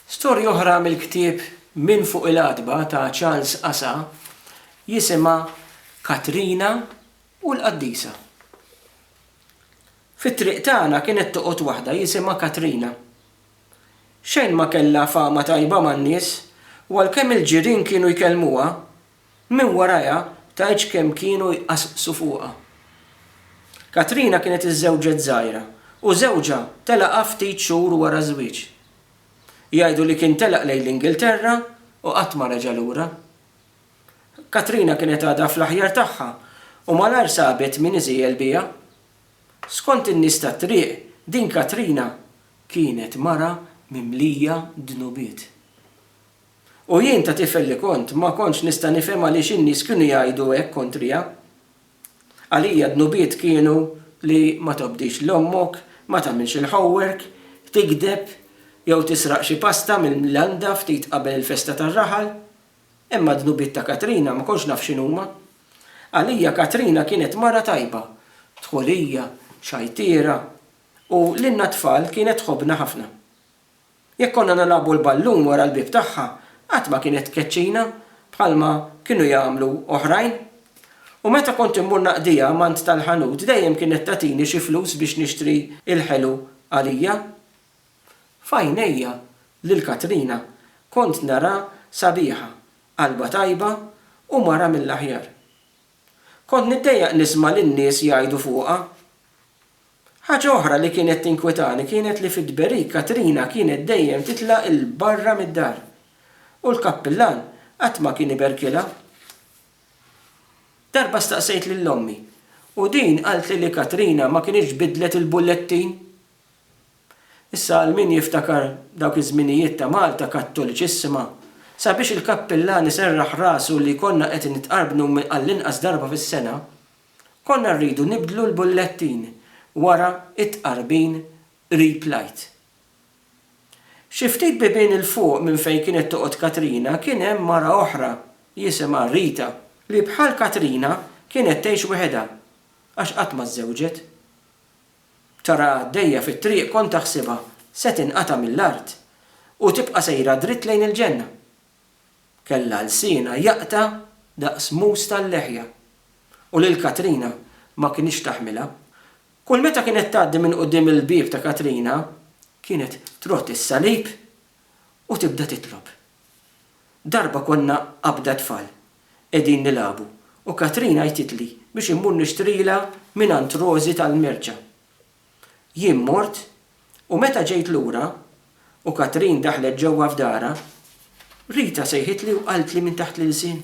Storja oħra mill-ktieb Min Fuq il-Għatba ta' Charles Asa jisimha Katrina u l-Qaddisa. Fit-triq tagħna kienet toqgħod waħda jisimha Katrina. Xejn ma kellha fama tajba man-nies u għalkemm il-ġirien kienu jkellmuha, Minn warajha tgħidx kemm kienu jqasqsu fuqha. Katrina kienet iżżewġet żgħira u żewġha telaqha ftit xhur wara ż-żwieġ. Jgħidu li kien telaq lejn l-Ingilterra u qatt ma reġa' lura. Katrina kienet għadha fl-aħjar tagħha u malajr sabet min iżiegħel biha. Skont in-nies tat-triq din Katrina kienet mara mimlija dnubiet. U jien ta' tifel li kont, ma kontx nista' nifhem għaliex in-nies kienu jgħidu hekk kontrija. Għalija d-dnubiet kienu li ma tobdix 'l ommok, ma tagħmilx il-homework, tigdeb, jew tisraq xi pasta mill-landa ftit qabel il-festa tar-raħal. Imma d-dnubiet ta' Katrina ma kontx naf x'inhuma. Għalija Katrina kienet mara tajba, dħulija, xajtiera, u lilna t-tfal kienet tħobbna ħafna. Jekk konna nilagħbu l-ballun wara l-bieb tagħha, qatt ma kienet tkeċċina bħalma kienu jagħmlu oħrajn. U meta kont immur naqdiha mant tal-ħanut dejjem kienet tagħtini xi flus biex nixtri l-ħelu għalija. F'għajnejja lil Katrina kont narha sabiħa, qalbha tajba u mara mill-aħjar. Kont niddejjaq nisma' lin-nies jgħidu fuqha. Ħaġa oħra li kienet tinkwitani kienet li fit-tberik Katrina kienet dejjem titla' 'l barra mid-dar u l-kappillan qatt ma kien iberkilha. Darba staqsejt lil ommi u din qaltli li Katrina ma kinitx biddlet il-bullettin. Issa għal min jiftakar dawk iż-żminijiet ta' Malta kattoliċissima, sabiex il-kappillan iserraħ rasu li konna qed nitqarbnu għall-inqas darba fis-sena, Konna rridu nibdlu l-bullettin wara t-tqarbin qrib l-Għid. Xi ftit bibien 'il fuq minn fejn kienet toqgħod Katrina kien hemm mara oħra jisimha Rita li bħal Katrina kienet tgħix weħedha għax qatt ma żżewġet. Taraha għaddejja fit-triq kont aħsibha se tinqata' mill-art u tibqa' sejra dritt lejn il-ġenna. kellha lsienha jaqta' daqs mus tal-leħja u lil Katrina ma kinitx taħmilha. Kull meta kienet tgħaddi minn quddiem il-bieb ta' Katrina kienet trodd is-salib u tibda titlob. Darba konna qabda tfal qegħdin nilagħbu u Katrina għajtitli biex immur nixtrilha mingħand Rożi tal-merċa. Jien mort u meta ġejt lura u Katrin daħlet ġewwa f'darha, Rita sejħitli u qaltli minn taħt l-ilsien,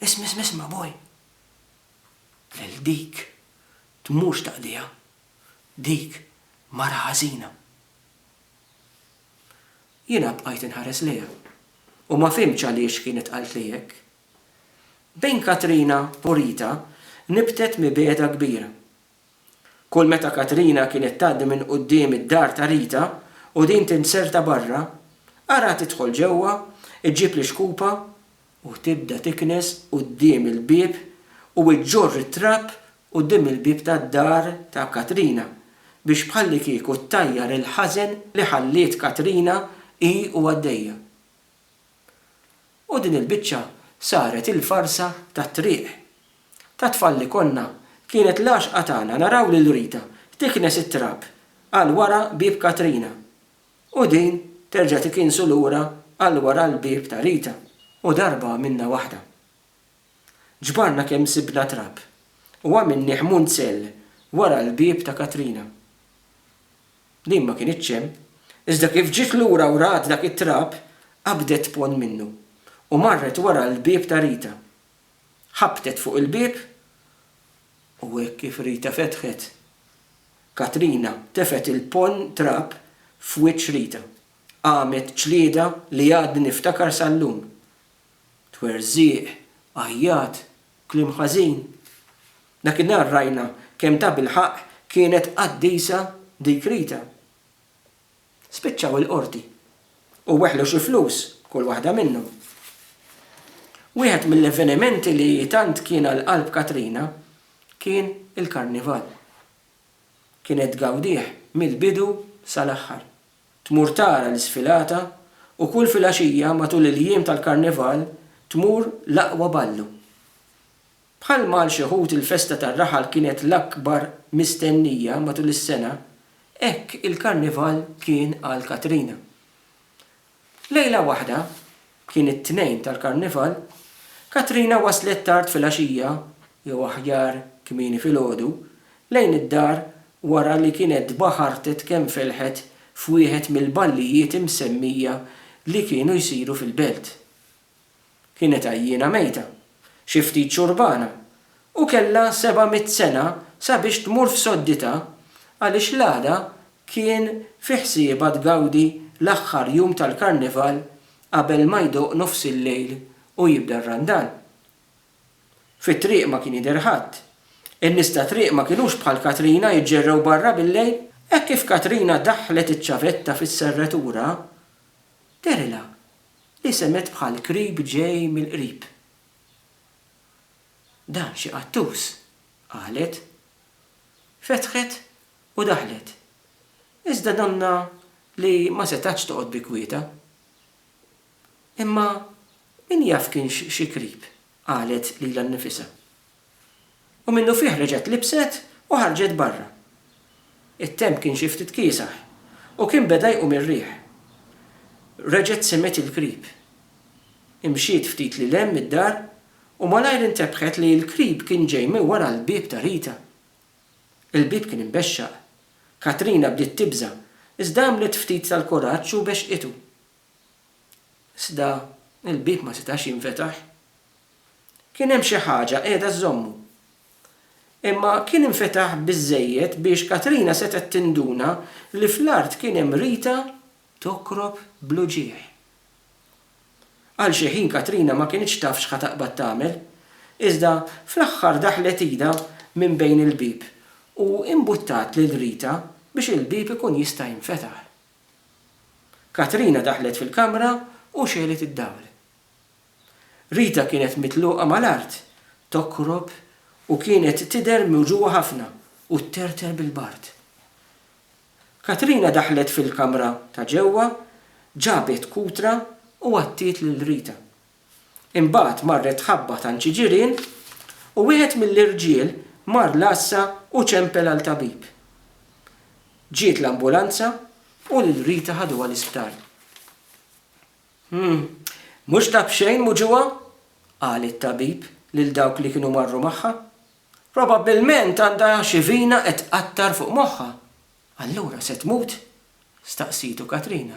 Isma' isma' isma' boj! Lil dik tmurx taqdiha. Dik mara ħażina. Jiena bqajt inħares lejha u ma fhimtx għaliex kienet qaltli hekk. Bejn Katrina u Rita nibtet mibegħda kbira. Kull meta Katrina kienet tgħaddi minn quddiem id-dar ta' Rita u din tinzerta barra, araha tidħol ġewwa, iġġib l-ixkupa u tibda tiknes quddiem il-bieb u iġġorr it-trab quddiem il-bieb tad-dar ta' Katrina biex bħallikieku ttajjar il-ħażen li ħalliet Katrina hi u għaddejja. U din il-biċċa saret il-farsa tat-triq. Ta' tfal li konna, kienet l-għaxqa tagħna naraw lil Rita tiknes it-trab għal wara bieb Katrina u din terġa' tikinsu lura għal wara l-bieb ta' Rita u darba għamilna waħda. Ġbarna kemm sibna trab u għamilnih munzell wara l-bieb ta' Katrina. Din ma kinitx hemm, iżda kif ġiet lura u rat dak it-trab, qabdet ponn minnu u marret wara l-bieb ta' Rita. Ħabbtet fuq il-bieb u hekk kif Rita fetħet, Katrina tefgħet il-ponn trab f'wiċċ Rita. Qamet ġlieda li għadni niftakar sal-lum. Twerżiq, għajjat, kliem ħażin. Dakinhar rajna kemm tabilħaqq kienet qaddisa dik Rita. Spiċċaw il-Qorti u weħlu xi flus kull waħda minnhom. Wieħed mill-avvenimenti li tant kien għal qalb Katrina kien il-Karnival. Kienet tgawdih mill-bidu sal-aħħar. Tmur tara l-isfilata u kull filgħaxija matul il-jiem tal-Karnival tmur l-aqwa ballu. Bħalma għal xi wħud il-festa tar-raħal kienet l-akbar mistennija matul is-sena, hekk il-Karnival kien għal Katrina. Lejla waħda, kien it-Tnejn tal-Karnival, Katrina waslet tard filgħaxija, jew aħjar kmieni filgħodu, lejn id-dar wara li kienet baħartet kemm felħet f'wieħed mill-ballijiet imsemmija li kienu jsiru fil-belt. Kienet għajjiena mejta, xi ftit xurbana, u kellha seba' mitt sena sabiex tmur f'sodditha għaliex l-għada kien fi ħsiebha tgawdi l-aħħar jum tal-Karnival qabel ma jdoqq nofs il-lejl u jibda r-Randan. Fit-triq ma kien jidher ħadd. In-nies tat-triq ma kinux bħal Katrina jiġġerrew barra bil-lejl. Hekk kif Katrina daħħlet iċ-ċavetta fis-serratura, dehrilha li semgħet bħal krib ġej mill-qrib. Dan xi qattus, qalet. Fetħet u daħlet, iżda donnha li ma setgħetx toqgħod bi kwietha. Imma min jaf kienx xi krib qalet lilha nnifisha. U minnufih reġgħet libset u ħarġet barra. It-temp kien xi ftit kiesaħ u kien beda jqum ir-riħ. Reġgħet semgħet il-krib. Imxiet ftit lil hemm mid-dar u malajr intebħet li l-krib kien ġej minn wara l-bieb ta' Rita. Il-bieb kien imbexxaq. Katrina bdiet tibża' iżda għamlet ftit tal-kuraġġ u bexxqitu. Iżda l-bieb ma setax jinfetaħ. Kien hemm xi ħaġa qiegħda żżommu. Imma kien infetaħ biżżejjed biex Katrina setgħet tinduna li fl-art kien hemm Rita tokrob bl-uġigħ. Għal xi ħin Katrina ma kinitx taf x'ħa taqbad tagħmel, iżda fl-aħħar daħlet idha minn bejn il-bieb u imbuttat lil Rita biex il-bieb ikun jista' jinfetaħ. Katrina daħlet fil-kamra u xegħlet id-dawl. Rita kienet mitluqa mal-art, tokrob u kienet tidher miwġugħa ħafna u tterter bil-bard. Katrina daħlet fil-kamra ta' ġewwa, ġabet kutra u għattiet lil Rita. Imbagħad marret tħabbat għand xi ġirien u wieħed mill-irġiel mar l-għassa u ċempel għal tabib. Ġiet l-ambulanza u lil Rita ħaduha l-isptar. Hm, mhux ta' b'xejn muġugħa? qal it-tabib lil dawk li kienu marru magħha. Probabbilment għandha xi vina qed tqattar fuq moħħha. Allura se tmut? staqsietu Katrina.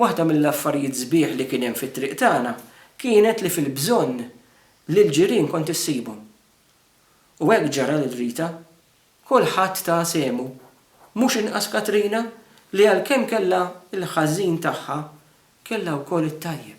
Waħda mill-affarijiet sbieħ li kien hemm fit-triq tagħna kienet li fil-bżonn lill-ġirien kont issibhom. U hekk ġara lil Rita. Kulħadd ta sehmu. Mhux inqas Katrina li għalkemm kellha l-ħażin tagħha, kellha wkoll it-tajjeb.